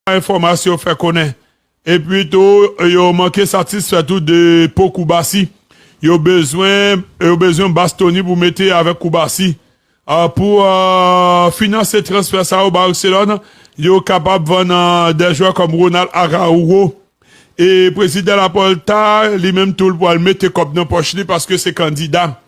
Enfòmasyon fè konnen. Epi tou yo manke satisfè tou de po Koubasi. Yo bezwen yo bezwen Bastoni pou mete avèk Koubasi. Pou finanse transfè sa yo Barcelòn yo kapab vann 2 jwè kòm Ronald Araujo. E prezidan Laporta li menm tou l pwal mete kòb nan pòch li paske se kandida.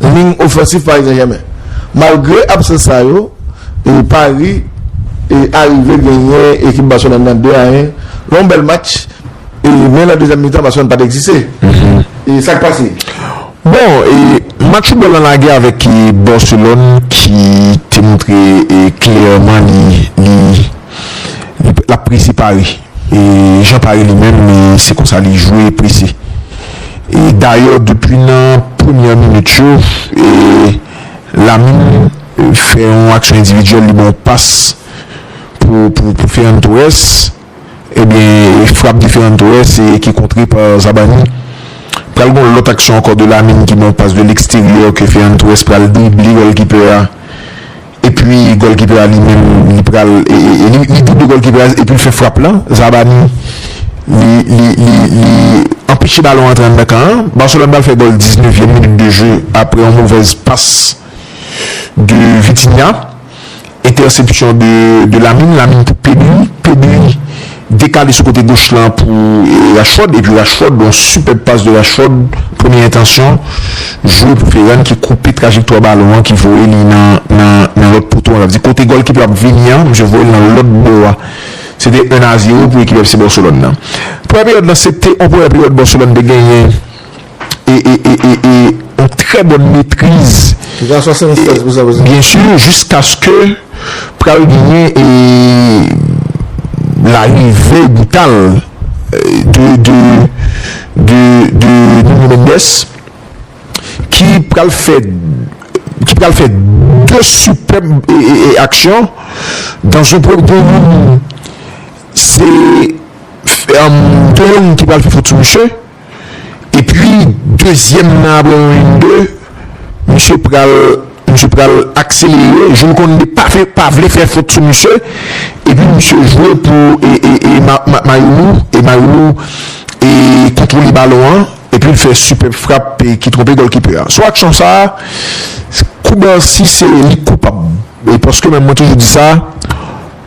liy ofansif Paris Saint-Germain. Malgre absans sa yo, Paris arive genyen ekip Barcelone nan 2 a 1 nan yon bèl match men nan dezyèm mitan Barcelone pat egziste. E sak pase? Bon, match foutbòl lan lage avèk Barcelone ki te montre klèman li lap prese Paris. E Jean Paris li menm li se konsa li jwe e prese. E dayè depi nan premyè minit yo e Lamine fè yon aksyon endividyèl li ba yon pas pou pou Ferran Torres ebyen e frap de Ferran Torres e ki kontre pa Zabarni. Pral gen yon lòt aksyon ankò de Lamine ki ba yon pas de leksteryè ke Ferran Torres pral drible gòlkipè a. Epi golkipè li menm li pral li double golkipè a epi li fè frap lan Zabarni li li anpeche balon antre anndan kan an Barcelone pral fè gòl 19 vyèm minit de jeu aprè yon movèz pas de Vitinha entèsepsyon de Lamine Lamine pou Pedri Pedri Dekale sou kote goch lan pou Rashford epi Rashford yon sipèb pas de Rashford premye entansyon jwe pou Ferran ki koupe trajektwa balon an ki voye li nan lòt poto an sa vle di kote gòl ki pral vini an misye voye l nan lòt bò a se te 1 a 0 pou ekip FC Barcelone nan premyè peryòd lan se te yon premyè peryòd Barcelone te genyen. yon trè bòn metriz, byensi jiskaske pral genyen larive brital de Nuno Mendes ki pral fè 2 sipèb aksyon dan yon premye tan, se Dorlan ki pral fè fot sou misye. Epi dezyèm nan apre yon en de misye pral misye pral akselere jou l konn li pa fè pa vle fè fot sou misye epi misye jwe pou e Mayoumou e Mayoumou e kontwole balon an epi l fè sipèb frap ki twonpe gòlkipè a sou aksyon sa Koubarsi se li k koupab paske menm mwen toujou di sa.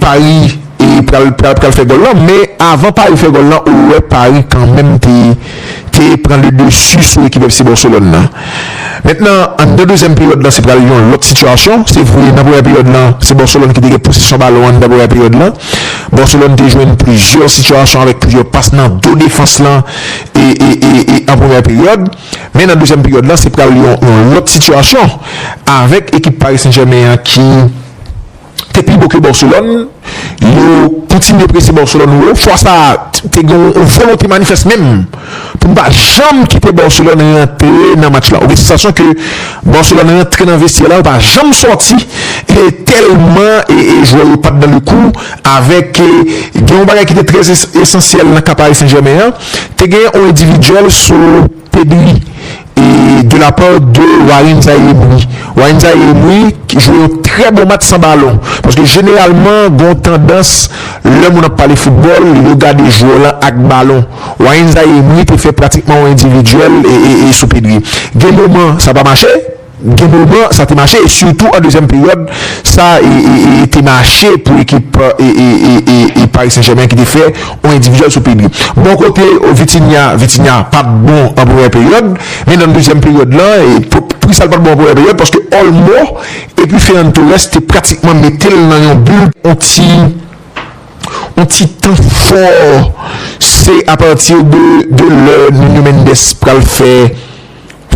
Paris pral pral fè gòl lan men avan Paris fè gòl lan ou wè Paris kanmenm te te pran le dessus sou ekip FC Barcelone lan mentnan anndan dezyèm peryòd lan se pral yon lòt sitiyasyon se vre nan premyè peryòd lan se Barcelone ki te gen posesyon balon anndan premyè peryòd lan Barcelone te jwenn plizyè sitiyasyon avèk plizyè pas nan do defans lan ee an premyè peryòd men nan dezyèm peryòd lan se pral yon lòt sitiyasyon avèk ekip Paris Saint-Germain an ki. te pi bon ke Barcelone, yo kontinye prese Barcelone wo, fwa sa a te gen yon volonte manifès menm pou pa janm kite Barcelone rantre nan match la, ou gen sansasyon ke Barcelone rantre nan vestye la yo pa janm sòti e tèlman e jwè yo pat dan le kou avèk gen yon bagay ki te trè esansyèl nan ka Paris Saint-Germain an, te gen yon endividyèl sou. Pedri e de la part de Warren Zaïre Emery. Warren Zaïre Emery ki jwe yon trè bon match san balon. Paske jeneralman gon tandans lè moun ap pale foutbòl yo gade jwè lan ak balon. Warren Zaïre Emery te fè pratikman yon endividyèl e sou Pedri. Gen moman sa pa mache. Gen pou l pran, sa te mache, sitou an dezyèm peryòd, sa te mache pou ekip Paris Saint-Germain ki te fè yon endividyèl sou Pedri. Bò kote Vitinha, Vitinha pa t bon an premyè peryòd, men nan dezyèm peryòd la, poukisa l pa t bon an premyè peryòd, paske Olmo epi Ferran Torres te pratikman mete l nan yon bil, yon ti yon ti tan fò, se apati de lè Nuno Mendes pral fè.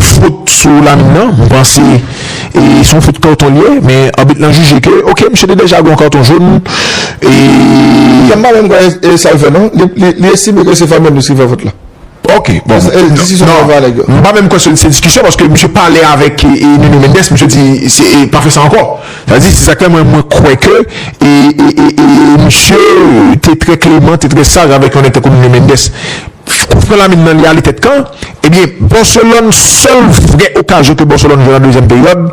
Fot sou Lamine nan, m panse se yon fot karton li ye men abit lan jije ke ok misye te deja gen yon karton jón e. Sa m pa menm kwè e sa l fè non, li estime ke se Fabregas ki fè fot la. Ok bon, m pa menm kwè se diskisyon paske misye pale avèk Nuno Mendes misye di pa fè sa ankò. Sa di, se sa k fè mwen mwen kwè ke e, e, e, e, e misye te trè kleman, te trè saj avèk yon nèg tankou Nuno Mendes. Kout fren lamin nan li ale tèt kan. Ebyen, Barcelone, sèl vrè okazyon ke Barcelone jwenn an dezyèm peryòd,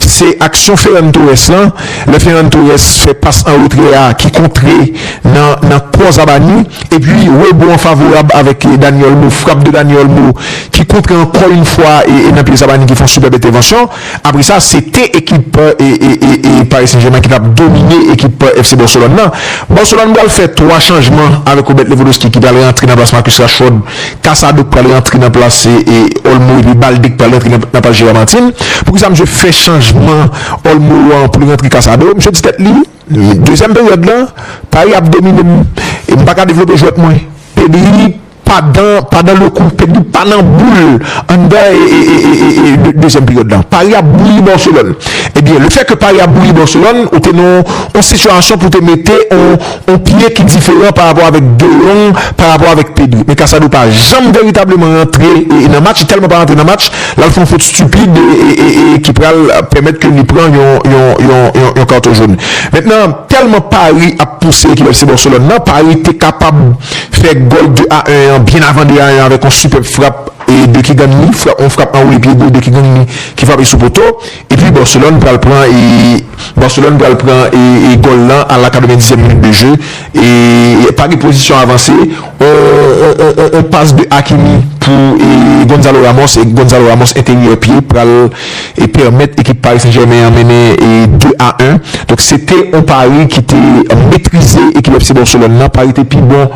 se aksyon Ferran Torres lan. Lè Ferran Torres fè pas an retrè a ki kontre nan, nan kò Zabarni. Epi, rebon an favorab avèk Dani Olmo, frap de Dani Olmo ki kontre ankò yon fwa e, e nan pye Zabarni ki fè yon sipèb entèvansyon. Apre sa, se te ekip Paris Saint-Germain ki t ap domine ekip FC Barcelone nan. Barcelone pral fè 3 chanjman avèk Robert Lewandowski ki pral rantre nan plas Marcus Rashford, Casado k pral rantre nan plas Olmo epi Balde k pral rantre nan plas Gerard Martin. Poukisa misye fè chanjman Olmo an pou l rantre Casado? Misye di tèt li, dezyèm peryòd lan, Paris ap domine m e m pa ka devlope jwèt mwen. Pedri. Padan padan le kou Pedri pa nan boul l anndan ee dezyèm peryòd la Pari ap bouyi Barcelone ebyen le fè ke Pari ap bouyi Barcelone ou te nan yon sitiyasyon pou te mete yon yon pye ki diferan pa rapò avèk De Jong pa rapò avèk Pedri men Casado pa janm veritableman rantre ee nan match li tèlman pa rantre nan match l al fè yon fot stupid ee ki pral pèmèt ke li pran yon yon yon yon karton jone mentnan tèlman Pari ap pouse ekip FC Barcelone nan Pari te kapab fè gòl 2 a 1 an byen avan 2 a 1 an avèk yon sipèb frap de Keegan Lee, frap yon frap anwoule pye gwo de Keegan Lee ki frape sou poto epi Barcelone pral pran Barcelone pral pran gòl lan a la 90 zièm minit de je e pa gen pozisyon avanse yon pas de Hakimi pou Gonzalo Ramos e Gonzalo Ramos enteryè pye pral e pèmèt ekip Paris Saint-Germain an mennen 2 a 1. Donk se te yon Paris ki te metrize ekip FC Barcelone nan. Paris te pi bon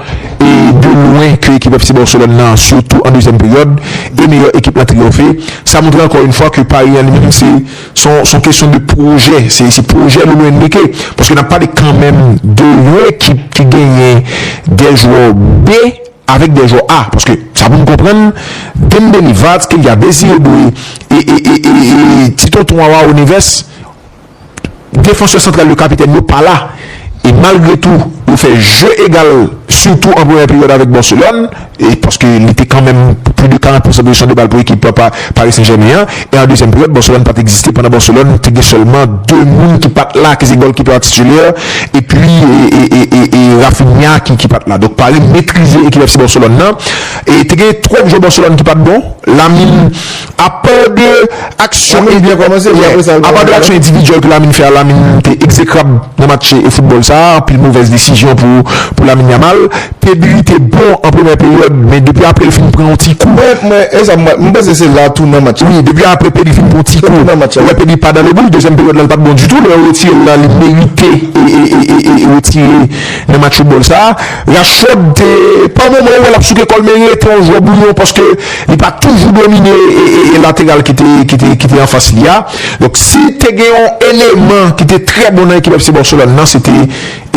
e de lwen ke ekip FC Barcelone nan sitou an dezyèm peryòd e meyè ekip lan triyonfe. Sa montre ankò yon fwa ke Paris an li menm se s on kesyon de pwojè, se pwojè Luis Enrique paske n ap pale kanmenm de yon ekip ki genyen 2 jwè B. avèk dè jwè a paske sa pou m konprann Dembele, Vats, Kylian Messi yo dwe e ti tonton wawa o Neves defansè santral yo kapitèn yo pa la e malgre tou yo fè je egal sitou an premyè peryòd avèk Barcelone e paske li te kanmenm pli de 40 pousan pozeysyon de bal pou ekip Paris Saint Germain an. E an dezyèm peryòd, Barcelone pat egziste pandan Barcelone te gen sèlman 2 moun ki pat la ki se gòlkipè a titulè epi e Raphinha ki pat la. Donk Paris metrize ekip FC Barcelone nan. E te gen twòp jwè Barcelone ki pat bon. Lamine apa de aksyon endividyèl ke Lamine fè a, Lamine te egzekrab nan match foutbòl sa a. Anpil movèz desizyon pou Lamine Yamal. Pedri te bon an premyè peryòd men depi aprè l fin pran yon ti kou. Mwen mwen e sa m wè. M panse se la tounan match la. Wi depi aprè Pedri fin pran yon ti kou. Ou wè Pedri pa dan le but. Dezyèm peryòd la l pa t bon ditou. Lè yo retire l la li merite e retire nan match foutbòl sa. Rashford te pa moman ou wè l ap souke kò l men li rete yon jwè bouyon paske li pa toujou domine e lateral ki te ki te ki te anfas li a. Donk si te gen yon eleman ki te trè bon nan ekip FC Barcelone nan se te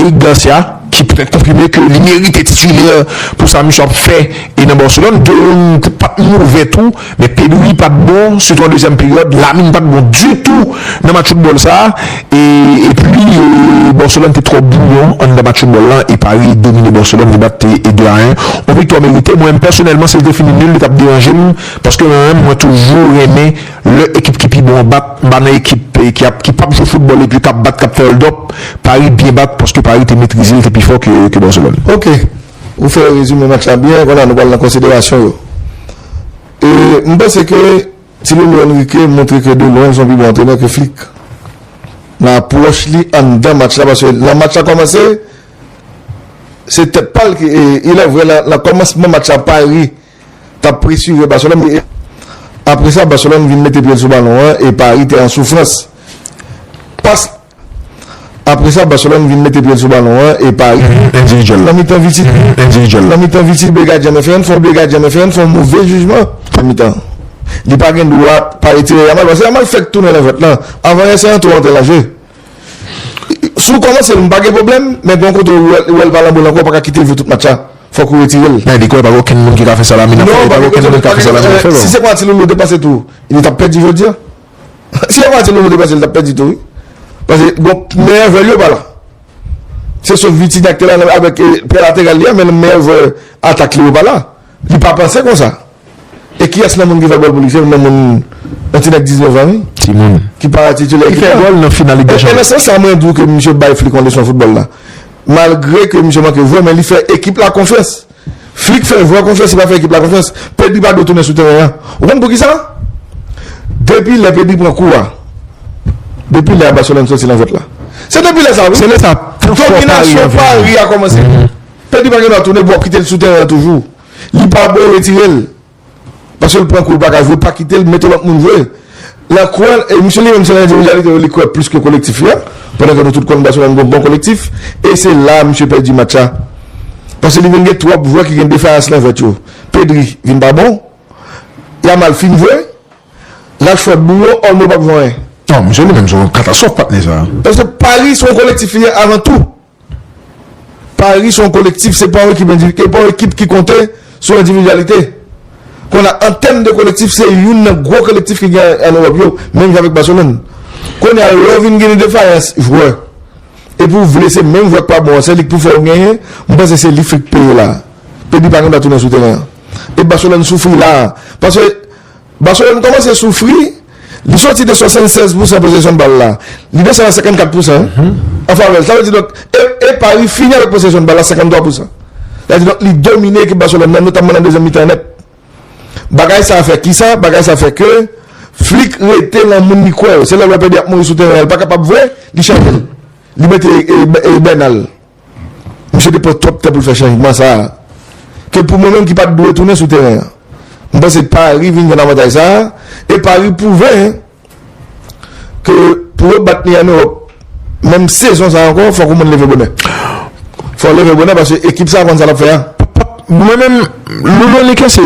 Eric Garcia. ki poutèt konfime ke li merite titulè pou sa misye ap fè e nan Barcelone, De Jong pat move tou men Pedri pat bon sitou an dezyèm peryòd, Lamine pat bon ditou nan match foutbòl sa e epi Barcelone te twò bwouyon anndan match foutbòl lan e Paris domine Barcelone li bat de a 1 yon viktwa merite mwen pèsonèlman si li te fini nul li tap deranjem paske mwen menm mwen toujou renmen Lè ekip ki pi bon an bat, m pa nan ekip ki ap ki pap jwe foutbòl epi kap bat kap fè oldòp, Paris byen bat paske Paris te metrize l te pi fò ke Barcelone. Ok, ou fè rezime match la byen, konnya nou pral nan konsiderasyon yo. E m panse ke ti loulou Enrique montre ke de lwen l son pi bon antrenè ke Flick nan apwòch li anndan match la paske lè match la kòmanse se tèt pa l ki e ilèvre nan kòmansman match la Paris t ap presire Barcelone e apre sa Barcelone vin mete pye l sou balon an e Paris te an soufrans. Pas apre sa Barcelone vin mete pye l sou balon an e Paris endividyèl nan mitan Vitinha endividyèl nan mitan Vitinha bliye gadyen an fè yon fot bliye gadyen an fè yon fon move jijman nan mitan li pa gen dwa pa retire Yamal paske Yamal fèk tounen nan vèt lan avan Yamal antre lan jwe. Si w kòmanse l m pa gen pwoblèm, men gen yon kote ou wè l pa lan bòl ankò ou pa ka kite l jwe tout match la, fòk ou retire l. Nan dekwen pa gen okenn moun ki ka fè sa Lamine ap fè, e pa gen okenn moun k ap fè sa Lamine ap fè non. Si se panati Lolo te pase tou li tap pèdi jodi an. Si se panati Lolo te pase li tap pèdi tou wi. Pase bon meyè jwè l yo pa la. Se sof Vitinha ki te la avèk pye lateral li a men meyè jwè atak li yo pa la. Li pa panse konsa. E kiyès nan moun ki fè gòl pou li? Se youn nan moun, yon ti nèg 19 an wi. Ti moun. Ki pa titulè ekip la. Ki fè gòl nan final Lig dè Chanpyon. E nan sans sa mwen di w ke misye bay Flick yon leson foutbòl la. Malgre ke misye manke jwè men li fè ekip la konfyans. Flick fè jwè konfyans, li pa fè ekip la konfyans. Pedri pa dwe tounen sou teren an. Ou konn poukisa? Depi lè Pedri pran kou a, depi lè a Barcelone soti nan jwèt la. Se depi lè sa wi. Se lè sa tout fò Paris an vini. Dominasyon Paris a kòmanse. Pedri pa gen dwa tounen pou w ap kite l sou teren an toujou. Li pa bon retirel. Paskel pran kou li paka jwe pa kitel mete lòt moun jwe. Lan kwè e misye li menm se lan endividyalite yo li kwè plis ke kolektif la pandan ke nou tout konn Barcelone gon bon kolektif e se la misye pèdi match la paske li vin gen twòp jwè ki gen defayans lan jwèt yo. Pedri vin pa bon. Yamal fin jwe. Rashford bou yo. Olmo pap jwe anyen. Non misye li menm se yon katastwòf patnè sa. Paske Paris se yon kolektif li ye avan tou. Pari se yon kolektif, se pa yon ekip endivik, e pa yon ekip ki konte sou endividyalite. Kon a, an tèm de kolektif, se youn nan gwo kolektif ki gen an Ewòp yo, menm jan avèk Baselòn. Kounye a, lè w vin gen yon defayans jwè, epi w vle se menm jwè k pa bon an, se li k pou fè w genyen, m panse se li frik peye la a. Epi pa gen dwa tounen sou teren an. E Baselòn soufri la a, paske. Barcelone kòmanse soufri, li soti de 76 pousan posesyon bal la, li desann a 54 pousan an favè l. Sa vle di donk e Paris fini avèk posesyon bal la 53 pousan. Sa vle di donk li domine ekip Barcelone nan notamman nan dezyèm mitan an nèt. Bagay sa fè kisa? Bagay sa fè ke Flick rete lan moun li kwè yo. Se lè l wè Pedri ap mouri sou teren an, li pa kapab vre, li chanje l, li mete Bernal. Misye te pran twòp tan pou l fè chanjman sa a, ke pou mwen menm ki pa t dwe tounen sou teren an. M panse Pari vin jwenn avantaj sa a, e Pari pwouve ke pou yo bat Miami Heat menm sezon sa a ankò, fòk yon moun leve bonè. Fò w leve bonè paske ekip sa a konn sa l ap fè a. Mwen menm, Lolo Neke se,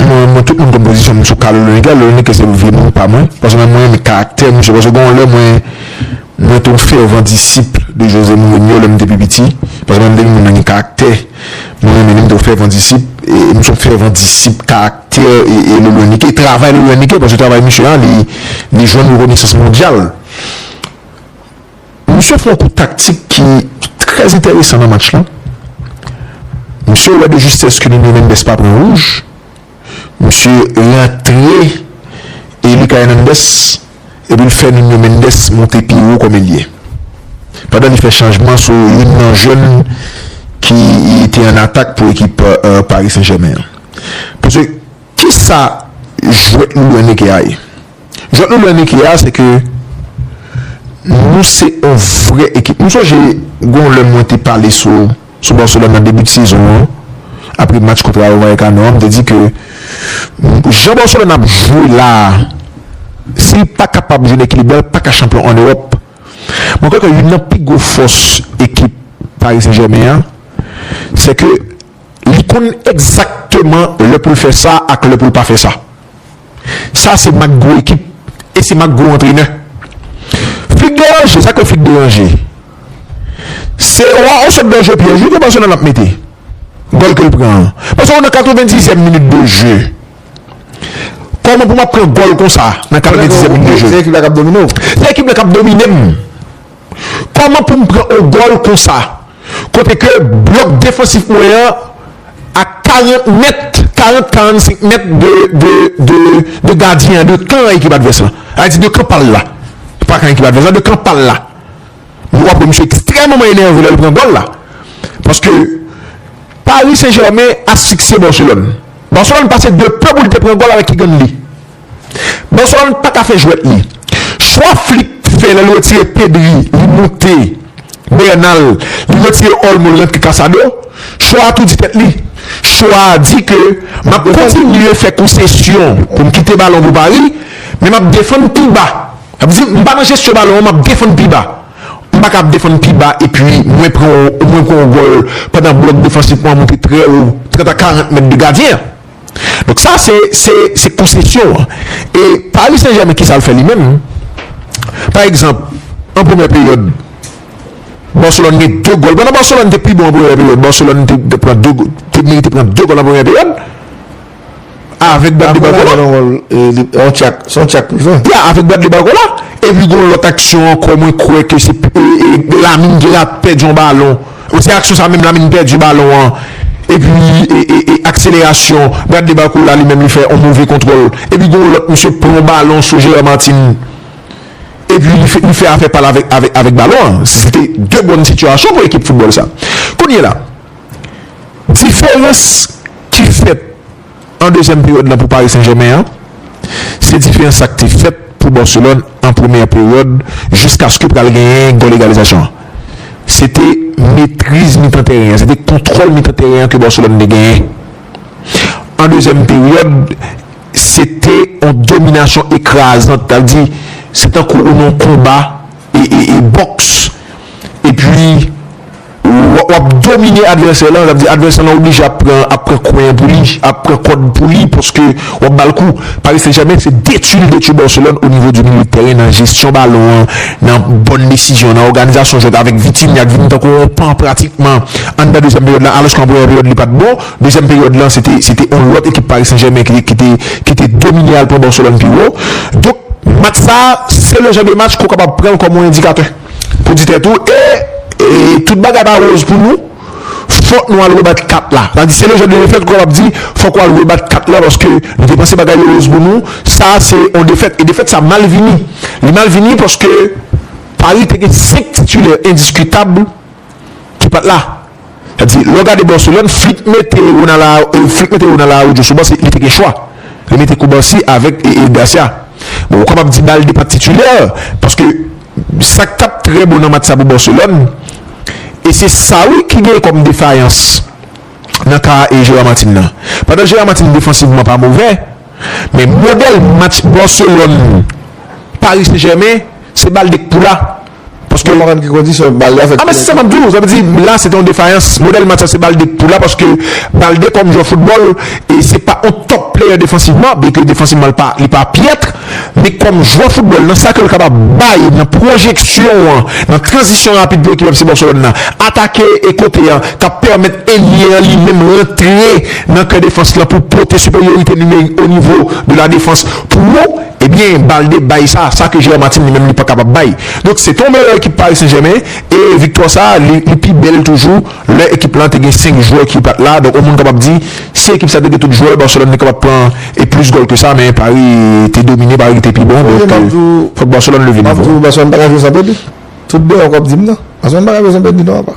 mwen tout moun konn pozisyon m sou ka Lolo Neke, Lolo Neke se vye moun pa mwen, paske mwen renmen karaktè misye, paske gen yon lè mwen. Mwen te yon fèvan disip de Jose Mourinho lè m te pi piti, paske mwen te yon moun renmen karaktè, mwen renmen li, m te yon fèvan disip, e m se yon fèvan disip karaktè e Le Lonique, e travay Le Lonique, paske travay misye a li jwenn rekonesans mondyal. Misye fè yon kou taktik ki trè entèresan nan match lan, misye wè de justès ke Nuno Mendes pa pran wouj, Misye rantre e li ka Hernandez epi l fè Nuno Mendes monte pi wo kòm elye. Pandan li fè chanjman sou youn nan jèn ki te an atak pou ekip Paris Saint-Germain an. Paske kisa jwèt nou lwen neke a ye? Jwèt nou lwen neke a se ke nou se yon vrè ekip. Nou sonje gen yon lè mwen te pale sou Sou Barcelone nan debi de sezon an, apre match kont Rayo Vallecano an, m te di ke jan Barcelone ap jwe la a, si l pa kapab jwenn ekilib la, l pa ka chanpyon an Ewòp. Mwen kwè ke youn nan pi gwo fòs ekip Paris Saint-Germain an, se ke li konn egzakteman lè pou l fè sa ak lè pou l pa fè sa. Sa se mak gwo ekip e se mak gwo antrenè. Fig deranje, sa k fè fig deranje? Se wa on sot danje pyèj wi ke Barcelone ap mete. Gòl ke l pran an. Paske w nan katrevenndizyèm minit de je. Kòman pou m ap pran gòl konsa nan katrevenndizyèm minit de je? Se ekip la k ap domine w? Se ekip la k ap domine m. Kòman pou m pran on gòl konsa kote ke blòk defansif mwen an a 40 mèt, 40, 45 mèt de gadyen an, de kan ekip advès la. Sa vle di de kan pa l la. Pa kan ekip advès la, de kan pa l la. Mwen wè msye ekstrèmeman enève lè l pran gòl la. Paske Paris Saint-Germain asfiksye Barcelone. Barcelone pase de pe pou l te pran gòl avèk Kigan Lee. Barcelone paka fè jwèt li. Chwa Flick fè lè li retire Pedri li moute Bernal, li retire Olmo li rantre Casado, chwa a tou di tèt li. Chwa a di ke m ap kontinye fè konsesyon pou m kite balon pou Paris, men m ap defann pi ba. Sa vle di m pa nan jesyon balon an, m ap defann pi ba. M pa ka ap defann pi ba epi mwen pran yon gòl pandan blòk defansif mwen an moute trè wo, 30 a 40 mèt de gadyen an. Donk sa se se se konsesyon an. E Pari Sen Jèmen ki sa l fè li menm? Pa egzanp, an premyè peryòd, Barcelone gen 2 gòl. Pandan Barcelone te pi bon an premyè peryòd, Barcelone te te pran 2 gòl, te merite pran 2 gòl an premyè peryòd. Avèk Bradley Barcola. Yon tchak, se yon tchak privan. Ya, avèk Bradley Barcola. Epi gen yon lòt aksyon ankò mwen kwè ke se Lamine ki rate pèdi yon balon. Ou se aksyon sa menm Lamine pèdi balon an epi akselerasyon Bradley Barcola li menm li fè yon move kontwòl epi gon lòt misye pran yon balon sou Gerard Martin epi li fè afè pal avèk balon an se te 2 bòn sitiyasyon pou ekip foutbòl sa. Kounyela diferans ki fèt. an dezyèm peryòd lan pou Paris Saint-Germain an, se diferans sa k te fèt pou Barcelone an premyè peryòd jiskaske pral genyen gòl egalizasyon an. Se te metriz mitan tèren an, se te kontwòl mitan tèren an ke Barcelone te genyen. An dezyèm peryòd, se te yon dominasyon ekrazant, ta di se tankou ou nan yon konba e e e bòks epi. W ap domine advèsè lan, sa vle di advèsè lan oblije ap pran ap pran kwen an pou li, ap pran kòd pou li paske w ap ba l kou. Paris Saint-Germain se detui li detui Barcelone onivo di milieu de terrain nan jesyon balon an, nan bòn desizyon, nan òganizasyon jwèt avèk Vitinha k vin tankou yon pan pratikman anndan dezyèm peryòd lan alòske an premyè peryòd li pa t bon. Dezyèm peryòd lan se te se te yon lòt ekip Paris Saint-Germain ki te ki te ki te domine al pran Barcelone pi wo. Donk match sa a se le jan de match ke w kapab pran l kòm yon endikatè. Pou di tèt ou e tout bagay pa roz pou nou fòk nou al rebat kat la sa vle di se le jan de defèt ou kapab di fòk ou al rebat kat la paske nou te panse bagay yo roz pou nou sa se yon defèt e defèt sa mal vini li mal vini paske Paris te gen 5 titulaires indiscutables ki pat la. Sa di, lè w gade Barcelone, Flick mete Ronald Araujo sou ban, li te gen chwa. Li mete Cubarsí avèk Garcia. Bon, ou kapab di Balde pa t titilè, paske sa k t ap trè bon nan match sa pou Barcelone, e se sa wi ki gen kòm defayans nan ka Gerard Martin nan. Pandan Gerard Martin defansivman pa movè, men modèl match Barcelone, Paris Saint-Germain, se Balde k pou la. Paske. Mwen pa konn ki kondisyon bal la fèt. A men se sa map di w, sa vle di la se te yon defayans. Modèl match la se Balde k pou la paske Balde kòm jwè foutbòl e se pa yon top player defansivman byenke defansivman li pa pyètre men kòm jwè foutbòl nan sa ke l kapab bay nan pwojeksyon an, nan tranzisyon rapid pou ekip FC Barcelone la atake e kote an k ap pèmèt elye an li menm rantre nan kè defans lan pou pote siperyorite nimerik onivo de la defans pou Ebyen Balde bay sa, sa ke Gérard Martin li menm li pa kapab bay. Donk se te yon bèl ekip Paris Saint-Germain e viktwa sa li li pi bèl toujou lè ekip lan te gen 5 jwè ki pat la. Donk yon moun kapab di si ekip sa te gen tout jwè Barcelone li kapab pran e plis gòl ke sa men Paris te domine, Paris ki te pi bon donk fòk Barcelone leve nivo a. Tout deyò kòp dim nan. Ase yon bagay bezwen pèdi non apa.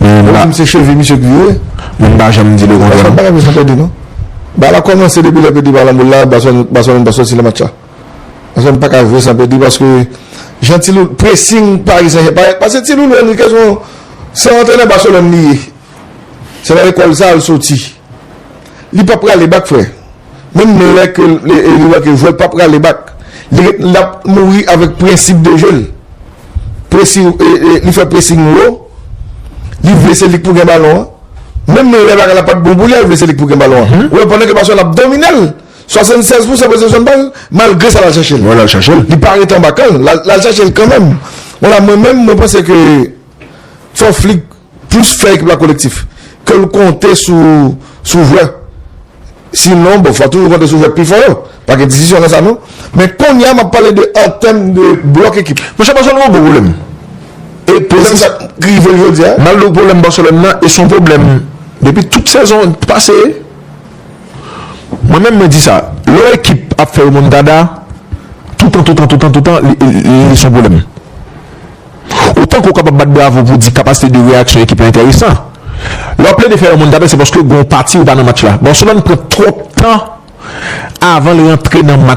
Moun pa dim se chevi misye ki ye. Moun pa janm di le kontrè non. Ase yon bagay bezwen pèdi non. Ba la kòmanse depi lè pèdi pa lan boul la Baselòn pa soti nan match la. Baselòn pa ka jwe san pèdi paske jan ti loulou pressing Paris Saint Germain paske ti loulou Enrique se yon se yon antrenè Baselòn li ye. Se nan lekòl sa al soti. Li pa prale bak frè. Menm lè ke li wè ke vòl pa prale bak, li ret la mouri avèk prensip de je l. Presi, li fè presin wo, li vle se li k pou gen balon an. Menm lè bagay la pa t bon pou li a, li vle se li k pou gen balon an. Ou wè pandan ke Baselòn ap domine l, 76 pousan posesyon bal, malgre sa l al chache l. Li pa rete anba kan l, l al chache l kanmenm. Wala mwen menm, mwen panse ke fò Flick. Plis fè ekip la kolektif ke l konte sou jwè. Sinon, bon, fò toujou konte sou jwè k pi fò yo. Pa gen diskisyon nan sa non. Men kounye a m ap pale de an tèm de blòk ekip. Monchè, Barcelone gen yon gwo pwoblèm. E pwoblèm sa ki rive l jodi a. Malgre pwoblèm Barcelone nan e se yon pwoblèm depi tout sezon pase. Mwen menm mwen di sa, lè yon ekip ap fè remontada, toutan, toutan, toutan, toutan li se yon pwoblèm. Otan ke w kapab bat bravo pou w di kapasite de reyaksyon ekip la enteresan. Lè w ap plede fè yon moun tape se paske gen yon pati ou pa nan match la. Barcelone pran twòp tan avan l rantre nan match la.